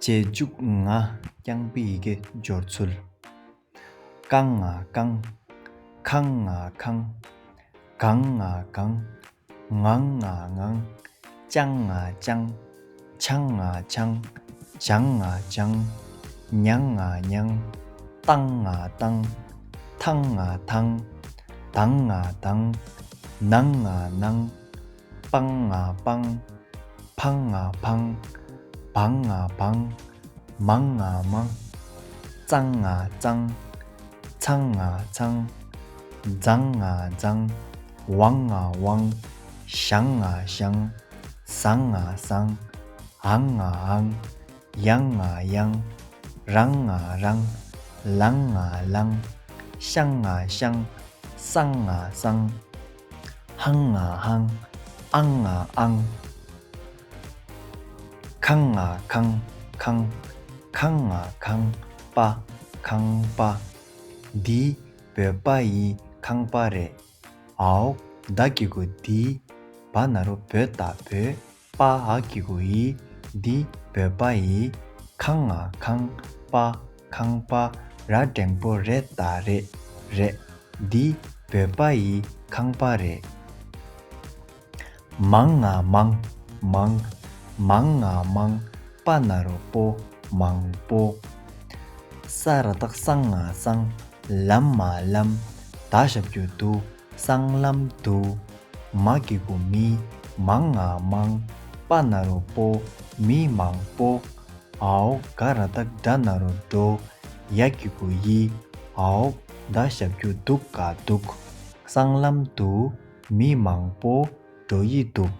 རྗེས་འཇུག་ང་རྐྱང་པའི་ཡི་གེ་སྦྱོར་ཚུལ། ཀང་ང་ཀང། ཁང་ང་ཁང། གང་ང་གང། ངང་ང་ངང། ཅང་ང་ཅང། ཆང་ང་ཆང། བྱང་ང་བྱང། ཉང་ང་ཉང། ཏང་ང་ཏང། ཐང་ང་ཐང། དང་ང་དང། ནང་ང་ནང། སྤང་ང་སྤང། འཕང་ང་འཕང། བང་ང་བང། མང་ང་མང། གཙང་ང་གཙང། ཚང་ང་ཚང། རྫང་ང་རྫང། བང་ང་བང། ཞང་ང་ཞང། སང་ང་སང། ཨང་ང་ཨང། ཡང་ང་ཡང། རང་ང་རང། ལང་ང་ལང། ཤང་ང་ཤང། སང་ང་སང། ཧང་ང་ཧང། ཨང་ང་ཨང། ཁང་ང་ཁང། ཁང། ཁང་ང་ཁང། པ། ཁང་པ། འདི། བོད་པ་ཡི་ཁང་པ་རེད། ཨའོ། བདག་གི་གུ་འདི། བ་ན་རོ་བོད་དང་བོད། པ་ཨ་ཀི་གུ་ཡི། འདི་བོད་པ་ཡི། ཁང་ཨ་ཁང་པ་ཁང་པ་ར་འགྲེང་པོ་རེད་ད་རེད་རེད། འདི་བོད་པ་ཡི་ཁང་པ་རེད། མང་ཨ་མང་མང། མང་ཨ་མང་པ་ན་རོ་པོ་མང་པོ། ས་ར་དག་སང་ཨ་སང། ལམ་ཨ་ལམ་ད་ཞབས་རྒྱུ་འདུག། སྲང་ལམ་དུ། མ་གི་གུ་མི་མང་ང་མང། པ་ན་རོ་པོ་མི་མང་པོ། ཨའོ་ག་ར་སྟག་སྒྲ་ན་རོ་སྒྲོ། ཡ་གི་གུ་ཡི། ཨའོ་ད་ཞབས་ཀྱུ་སྡུག་ག་སྡུག། སྲང་ལམ་དུ། མི་མང་པོ་སྒྲོ་ཡི་སྡུག།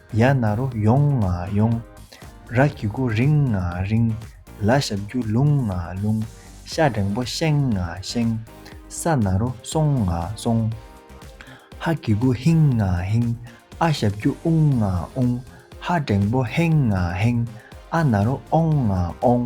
ཡ་ན་རོ་ཡོང་ང་ཡོང། ར་གི་སྒོ་རིང་ང་རིང། ལ་ཞབས་རྒྱུ་ལུང་ང་ལུང། ཤ་སྒྲེང་པོ་ཤེང་ང་ཤེང། ས་ན་རོ་སོང་ང་སོང། ཧ་གི་སྒོ་ཧིང་ང་ཧིང། ཨ་ཞབས་རྒྱུ་ཨུང་ང་ཨུང། ཧ་སྒྲེང་པོ་ཧེང་ང་ཧེང། ཨ་ན་རོ་ཨོང་ང་ཨོང།